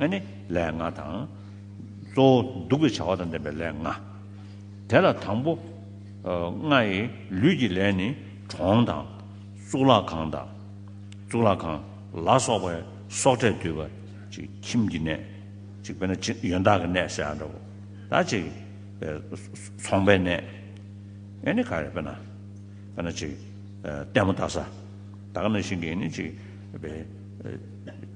ཨ་ནི་ལས་ལྔ་དང། གཙོ་བོ་གདུག་པའི་བྱ་བ་དང་ལྡན་པའི་ལས་ལྔ། དེ་ལ་དང་པོ་ལྔའི་ལུས་ཀྱི་ལས་ནི་གྲོང་དང། གཙུག་ལག་ཁང་དང། གཙུག་ལག་ཁང་ལ་སོགས་པའི་སྲོག་ཕྲད་འདུས་པ། ཁྱིམ་གྱི་གནས། དཔེར་ན་ཡོན་བདག་གི་གནས་ཟེར་བ་འདྲ་བོ། ཚོང་པའི་གནས། ཨ་ནི་ག་རེ་དཔེར་ན། དཔེར་ན་ལྟད་མོ་ལྟ་ས། ད་ག་ན་ཞིག་གིས་ནི།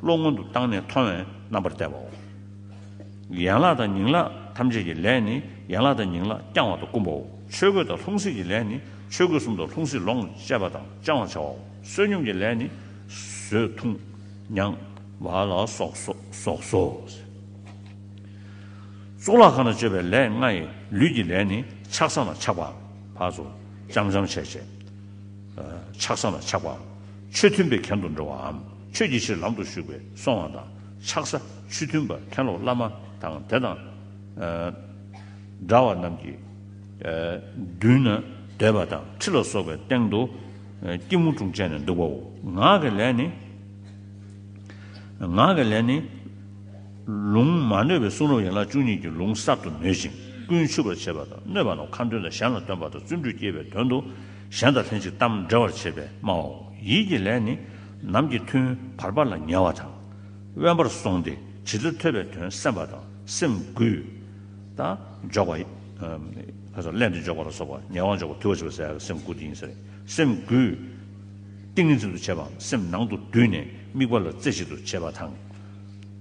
བློ་སྔོན་དུ་བཏང་ནས་མཐོང་བའི་རྣམ་པར་བལྟ་བའོ། ཡན་ལག་དང་ཉིང་ལག་ཐམས་ཅད་ཀྱི་ལས་ནི་ཡན་ལག་དང་ཉིང་ལག་བསྐྱང་བ་དང་བསྐུམ་པའོ། ཆོས་གོས་དང་ལྷུང་བཟེད་ཀྱི་ལས་ནི་ཆོས་གོས་གསུམ་དང་ལྷུང་བཟེད་ལོངས་སྤྱད་པ་དང་བཅང་བར་བྱ་བའོ། བསོད་སྙོམས་ཀྱི་ལས་ནི་ཟོས་འཐུངས་མྱང་བ་ལ་སོགས་སོ། གཙུག་ལག་ཁང་ན་སྤྱོད་པའི་ལས་ལྔ་ཡི། ལུས་ཀྱི་ལས་ནི་ཆགས་སམ་ལ་ཆགས་པ། བར་དོ་ལྕམ་ལྕམ་བྱས་བྱས། ཆགས་སམ་ལ་ཆགས་པའམ། ཆོས་མཐུན་པའི་གན་དུ་འགྲོ་བའམ། ཆོས་ཀྱི་ཕྱིར་ལམ་དུ་ཞུགས་པའི་སྲོག་དབང་དང་ཆག་ས་ཆུ་མཐུན་པ་མཁན་སློབ་བླ་མ་དང་དེ་དང་འདྲ་བ་རྣམས་ཀྱི་མདུན་ན་འདོད་པ་དང་ཁྲི་ལ་སོགས་པའི་སྟེང་དུ་སྐྱིལ་མོ་ཀྲུང་བཅས་ནས་འདུག་པའོ། ངག་གི་ལས་ནི། ངག་གི་ལས་ནི། ལུང་མ་ནོད་པའི་གསུང་རབ་ཡན་ལག་བཅུ་གཉིས་ཀྱི་ལུང་གསར་དུ་ནོད་ཅིང་ཀུན་ཆུབ་པར་བྱེད་པ་དང་གནོད་པ་རྣམས་ཁ་འདོན་དང་གཞན་ལ་སྟོན་པ་དང་བརྩོན་འགྲུས་བསྐྱེད་པའི་དོན་དུ་གཞན་དང་ལྷན་ཅིག་གཏམ་འདྲེ་བར་བྱེད་པས་སྨྲ་བའོ། ཡིད་ཀྱི་ལས་ནི། ནམ་གྱི་ཐུན་བར་པ་ལ་ཉལ་བ་དང། དབེན་པར་སོང་སྟེ་བྱིས་གླུ་ཐོས་པའི་དོན་སེམས་པ་དང་སེམས་གུས། དང། འཇོག་པ། སླད་དུ་འཇོག་པ་ལ་སོགས་པ་ཉེ་བར་འཇོག་པ་དུལ་བ་བྱེད་པ་ཟད་ཀྱི་སེམས་གུས་དེ་ཡིན་ཟེར། སེམས་གུས། ཏིང་ངེ་འཛིན་དུ་བྱེད་པའམ་སེམས་ནང་དུ་བསྡུས་ནས་དམིགས་པ་ལ་རྩེ་གཅིག་ཏུ་བྱེད་པ་དང།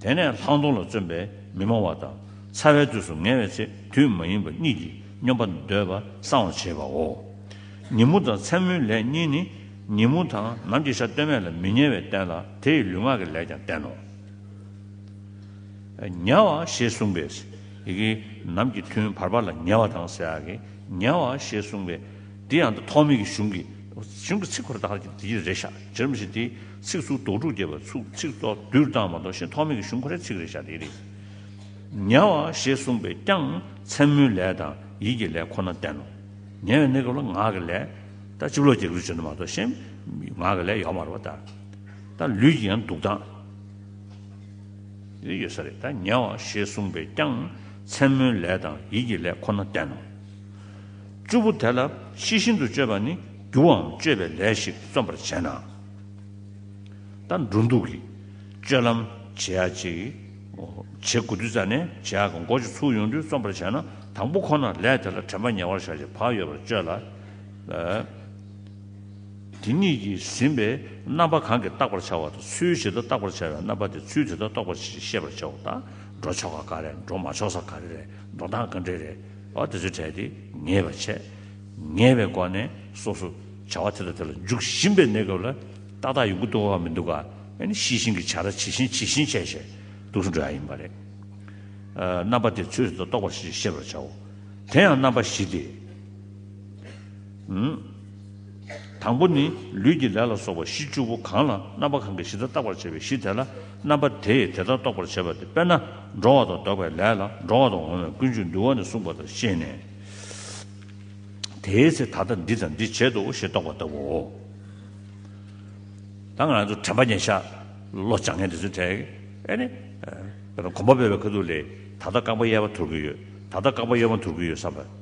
དེ་ནས་ལྷག་མཐོང་ལ་བརྩོན་པས་མི་སྨྲ་བ་དང། ཚ་བའི་དུས་སུ་ངལ་བའི་ཚེ་དུས་མ་ཡིན་པ་གཉིས་ཀྱིས་སྙོམས་པར་འདོད་པ་སྲང་བར་བྱེད་པའོ། ཉིན་མོ་དང་མཚན་མོའི་ལས་གཉིས་ནི། ཉིན་མོ་དང་ནམ་གྱི་ཆ་སྟོད་སྨད་ལ་མི་ཉལ་བས་བསྟན་ལ་དེ་ཡི་ལུས་ངག་གི་ལས་ཀྱང་བསྟན་ནོ། ཉལ་བ་ཞེས་གསུངས་པས། ཀྱི། ནམ་གྱི་ཐུན་བར་པ་ལ་ཉལ་བ་དང་ཟེར་ཡ་གི། ཉལ་བ་ཞེས་གསུངས་པས། འདི་ཡང་ཐོགས་མེད་ཀྱི་གཞུང་གི། གཞུང་གི་ཚིག་འཁོར་དག་གིས་དེ་རེ་བཞག་ཇི་རིམ་བཞིན་དེའི་ཚིག་ཚུགས་དོགས་དྲུག་བསྐྱེད་པ་ཚུགས་ཚིག་ཚོགས་བསྡུས་བཏང་བ་དོགས་ཤིང་ཐོགས་མེད་ཀྱི་གཞུང་འཁོར་རེ་ཚིག་རེ་བཞག་དེའི་རིགས། ཉལ་བ་ཞེས་གསུངས་པས་ཀྱང་མཚན་མོའི་ལས་དང་ཡིད་ཀྱི་ལས་ཁོ་ན་བསྟན་ནོ། ཉལ་བའི་གནས་སྐབས་ལ་ངག་གི་ལས། ད་ཅིག་ལོ་ཀྱི་ལུས་བྱོན་དུ་མ་གཏོགས་གཞན། ངག་གི་ལས་ཡོག་མ་རུ་བ་ལྟར། ད་ལུས་ཀྱི་ཡང་འདུག་སྟངས། ཡོད་ས་རེད་ད་ཉལ་བ་ཞེས་གསུངས་པས་ཀྱང། མཚན་མོའི་ལས་དང་ཡིད་ཀྱི་ལས་ཁོ་ན་བསྟན་ནོ། བཅུ་པོ་དེ་ལ་ཤེས་བཞིན་དུ་སྤྱོད་པ་ནི་རྒྱུ་བའམ་སྤྱོད་པའི་ལས་ཤིག་བརྩོན་པར་བྱས་ན། ད་འགྲོ་འདུག་གི་སྤྱོད་ལམ་བྱེད་ཡག་ཅིག། བྱེད་དགོས་དུས་ཙཱ་ནས་བྱེད་ཡག་གི་མགོ་ཅིག་ཚུགས་ཡོང་དུས་བརྩོན་པར་བྱས་ན་དང་པོ་ཁོ་ན་ལས་དེ་ལ་དྲན་པ་ཉེ་བར་བཞག་ཅིག་བག་ཡོད་པར་སྤྱོད་ལ། དེ་གཉིས་ཀྱིས་ཟིན་པའི་རྣམ་པ་གང་གིས་བརྟག་པར་བྱ་བ་དང་ཚུལ་ཇི་ལྟར་བརྟག་པར་བྱ་བའི་རྣམ་པ་དེ་ཚུལ་དེ་ལྟར་རྟོགས་པ་ཞེས་ཤེས་པར་བྱའོ། ད་འགྲོ་ཆོ་ག་ག་རེ་འགྲོ་མ་ཆོག་ས་ག་རེ་རེད་འགྲོ་སྟངས་ག་འདྲེ་རེད་བ་དེ་ཚོའི་གྲས་དེ་ངེས་པར་བྱས། ངེས་པའི་སྒོ་ནས་སོ་སོ་བྱ་བ་དེ་དང་དེ་ལ་འཇུག་བཞིན་པའི་གནས་སྐབས་ལ་ཏག་ཏག་ཡོང་གི་འདུག་ག་མི་འདུག་ག་ནི་ཤེས་བཞིན་གྱི་བྱ་ར་ཇི་བཞིན་ཇི་བཞིན་བྱས་བྱས་འདུག་ཟེར་འགྲོ་ཡ་ཡིན་པ་རེད། རྣམ་པ་དེ་ཚུལ་དེ་ལྟར་རྟོགས་པ་ཞེས་ཤེས་པར་བྱའོ། དེ་ཡང་རྣམ་པ་བཞི་སྟེ། དང་པོ་ནི། ལུས་ཀྱི་ལས་ལ་སོགས་པ་གཞི་བཅུ་པོ་གང་ལ་རྣམ་པ་གང་གིས་གཞི་ལྟར་བརྟག་པར་བྱ་བའི་གཞི་དེ་ལ་རྣམ་པ་དེས་དེ་ལྟར་རྟོགས་པར་བྱེད་པ་སྟེ་དཔེར་ན་འགྲོ་བ་དང་འདོགས་པའི་ལས་ལ་འགྲོ་བ་དང་འོང་བའི་ཀུན་སྤྱོད་འདུལ་བ་ནས་གསུངས་པ་དང་ཤེས་ནས། དེའི་ཚེ་ད་ལྟ་འདི་དང་འདི་བྱེད་དོ་ཞེས་རྟོགས་པ་ལྟ་བུའོ། དང། ང་ཚོ་དྲན་པ་ཉན་བྱ། བློ་སྦྱང་ངན་དེ་ཚོའི་གྲས། ཨེ་ནི། དཔེར་ན་གོམ་པ་སྤོས་པའི་ཁ་ཐུག་ལས་ད་ལྟ་རྐང་པ་གཡས་པ་འཐོར་གྱི་ཡོད། ད་ལྟ་རྐང་པ་གཡོན་པ་འཐོར་གྱི་ཡོད་བསམ་པ།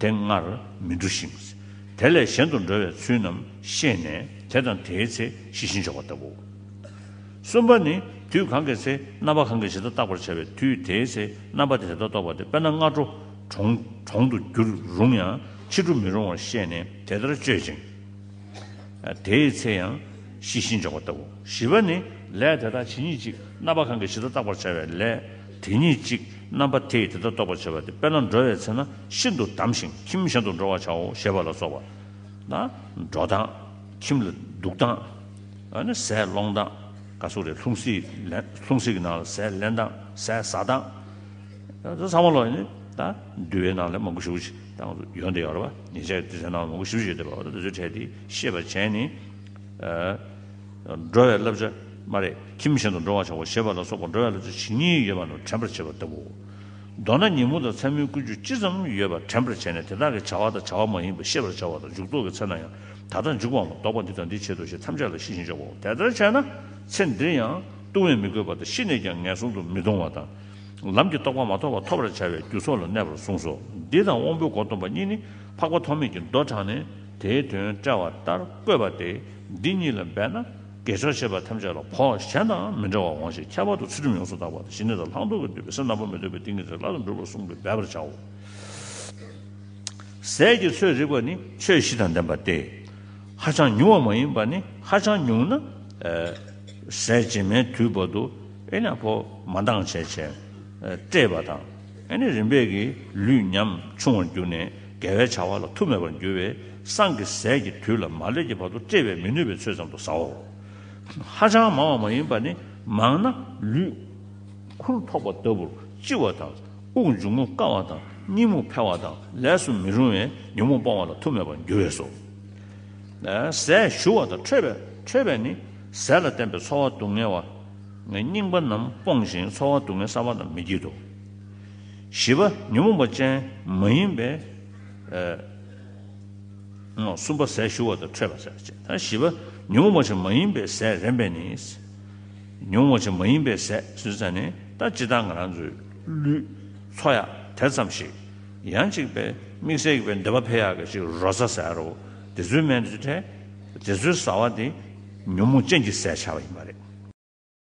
དེ་སྔར་མི་འགྲོ་ཞིང། དེ་ལས་གཞན་དུ་འགྲོ་བའི་ཚུལ་རྣམས་ཤེས་ནས་དེ་དང་དེའི་ཚེ་ཞི་ཞིང་འཇོག་པ་ལྟ་བུའོ། གསུམ་པ་ནི། དུས་གང་གི་ཚེ་རྣམ་པ་གང་གི་ཞིང་དུ་བརྟག་པར་བྱ་བའི་དུས་དེའི་ཚེ་རྣམ་པ་དེ་དེ་ལྟར་རྟོགས་པ་དེ་དཔེར་ན་སྔ་དྲོ་གྲོང་དུ་འགྱུར་རུང་ཡང་ཕྱི་དྲོ་མི་རུང་བར་ཤེས་ནས་དེ་ལྟར་སྤྱོད་ཅིང། དེའི་ཚེ་ཡང་ཞི་ཞིང་འཇོག་པ་ལྟ་བུའོ། བཞི་པ་ནི། ལས་དེ་དག་ཇི་སྙེད་ཅིག་རྣམ་པ་གང་གི་ཞིང་དུ་བརྟག་པར་བྱ་བའི་ལས། དེ་ཉིད་གཅིག་རྣམ་པ་དེས་དེ་ལྟར་རྟོགས་པར་བྱ་བ་སྟེ་དཔེར་ན་འགྲོ་བའི་ཚེ་ན་ཤིན་ཏུ་བསྡམས་ཤིང་ཁྱིམ་གཞན་དུ་འགྲོ་བར་བྱའོ་ཞེས་པ་ལ་སོགས་པ། ན་འགྲོ་དང། ཁྱིམ་ལ་འདུག་དང། ཟས་སློང་དང། ཀ་སུ་རའི་ལྷུང་བཟེད་ཀྱི་ནང་ལ་ཟས་ལེན་དང་ཟས་ཟ་དང། ཚང་མ་ལ་ནི་འདུལ་བའི་ནང་ལས་མང་པོ་བཞུགས་ཤིག་དང། ཡོན་ཏན་ཡོད་རེ་བ་ཉེས་བྱས་ཀྱི་དུས་ཚོད་ནང་ལ་མང་པོ་བཞུགས་ཤིག་ཅེས་པའོ། དེ་ཚོའི་གྲས་དེ་ཤེས་པར་བྱས་ནས། འགྲོ་བའི་བསླབ་བྱ་སྨྲ་རེས་ཁྱིམ་གཞན་དུ་འགྲོ་བར་བྱའོ་ཞེས་པ་ལ་སོགས་པ་འགྲོ་བའི་བསླབ་བྱ་ཇི་སྙེད་ཡོད་པ་རྣམས་དྲན་པར་བྱེད་པ་ལྟ་བུའོ། མདོར་ན་ཉིན་མོ་དང་མཚན་མོའི་ཀུན་སྤྱོད་ཅི་ཙམ་ཡོད་པ་དྲན་པར་བྱས་ནས་དེ་དག་གི་བྱ་བ་དང་བྱ་བ་མ་ཡིན་པ་ཤེས་པར་བྱ་བ་དང་འཇུག་ལྡོག་གི་ཚེ་ན་ཡང་ད་ལྟར་འཇུག་པའམ་ལྡོག་པ་འདི་དང་འདི་བྱེད་དོ་ཞེས་ཐམས་ཅད་ལ་ཤེས་ཤིང་འཇོག་པའོ། དེ་ལྟར་བྱས་ན་ཚེ་འདིར་ཡང་ལྟུང་བས་མི་གོས་པ་དང་ཤི་ནས་ཀྱང་ངན་སོང་དུ་མི་ལྟུང་བ་དང། ལམ་གྱི་རྟོགས་པ་མ་ཐོབ་པ་ཐོབ་པར་བྱ་བའི་རྒྱུ་སོགས་ལ་གནས་པར་གསུངས་སོ། འདི་དང་དབང་པོའི་སྒོ་སྟོན་པ་གཉིས་ནི་འཕགས་པ་ཐོགས་མེད་ཀྱིས་མདོ་དྲངས་ནས་དེའི་དོན་བཀྲལ་བ་ལྟར་བཀོད་པ་སྟེ། འདི་གཉིས་ལ་འབད་ན་དགེ་སྦྱོར་བྱེད་པ་ཐམས་ཅད་ལ་བོགས་གཞན་དང་མི་འབྲལ་བར་འོང་ཞེས་ཁྱད་པར་དུ་ཚུལ་ཁྲིམས་ཡོངས་སུ་དག་པ་དང་ཞི་གནས་དང་ལྷག་འདོད་ཀྱིས་བསྡུས་པའི་སེམས་དང་པོ་མི་འདོད་པའི་ཏིང་ངེ་འཛིན་སླར་ཡང་འགྲུབ་པར་གསུངས་པས་འབད་པར་བྱའོ། ཟས་ཀྱི་ཚོད་རིག་པ་ནི་ཆོས་བཞི་དང་ལྡན་པ་སྟེ། ཧ་ཅང་ཉུང་བ་མ་ཡིན་པ་ནི་ཧ་ཅང་ཉུང་ན། ཟས་རྗེས་མའི་དུས་བར་དུ་ཨེ་ན་བོ་མ་འདང་བྱས་བྱས། བཀྲེས་པ་དང། ཨེ་ནི་རིམ་པས་ཀྱི་ལུས་ཉམས་ཆུང་བར་གྱུར་ནས་དགེ་བའི་བྱ་བ་ལ་ཐུགས་མེད་པར་འགྱུར་བས་སྲང་གི་ཟས་ཀྱི་དུས་ལ་མ་སླེབས་ཀྱི་བར་དུ་བཀྲེས་པས་མི་ནུས་པའི་ཚོད་ཙམ་དུ་ཟའོ། ཧ་ཅང་མང་བ་མ་ཡིན་པར་ནི་མང་ན་ལུས། ཁུར་ཐོགས་པ་ལྟ་བུར་ལྕི་བ་དང་དབུགས་འབྱུང་ངུ་དཀའ་བ་དང་གཉིད་མུག་འཕེལ་བ་དང་ལས་སུ་མི་རུང་བས་ཉོན་མོངས་སྤོང་བ་ལ་ཐུགས་མེད་པར་འགྱུར་བས་སོ། ཟས་ཞུ་བ་དང་ཁྲོས་པས་ནི་ཟས་ལ་བརྟེན་པའི་ཚོར་བ་སྡུག་བསྔལ་བ། ངས་རྙིང་པ་རྣམས་སྤོང་ཞིང་ཚོར་བ་སྡུག་བསྔལ་བསམ་པ་ལ་མི་བགྱིད་དོ། བཞི་པ་ཉོན་མོངས་པ་ཅན་མ་ཡིན་པའི། གསུམ་པ་ཟས་ཞུ་བ་དང་ཁྲོས་པ་ཟས་བཅས་དང་བཞི་པ་ཉོན་མོངས་པ་ཅན་མ་ཡིན་པའི་ཟས་རན་པས་ནི། ཉོན་མོངས་པ་ཅན་མ་ཡིན་པའི་ཟས་ཟོས་ཚད་ནི་ད་ཅི་ལྟར་ང་རང་ཚོའི་ལུས། ཚོ་ཡག་དེ་ཙམ་ཞིག་ཡང་གཅིག་པའི་དམིགས་བསལ་གྱི་བའི་འདོད་པ་འཕེལ་ཡག་གི་ཅིག་རོ་བཟའ་ཟེར་རོ། དེ་ཚོའི་སྨན་དེ་ཚོའི་བཟའ་བ་དེ་ཉོན་མོངས་ཅན་གྱི་ཟས་བྱ་བ་ཡིན་པ་རེད།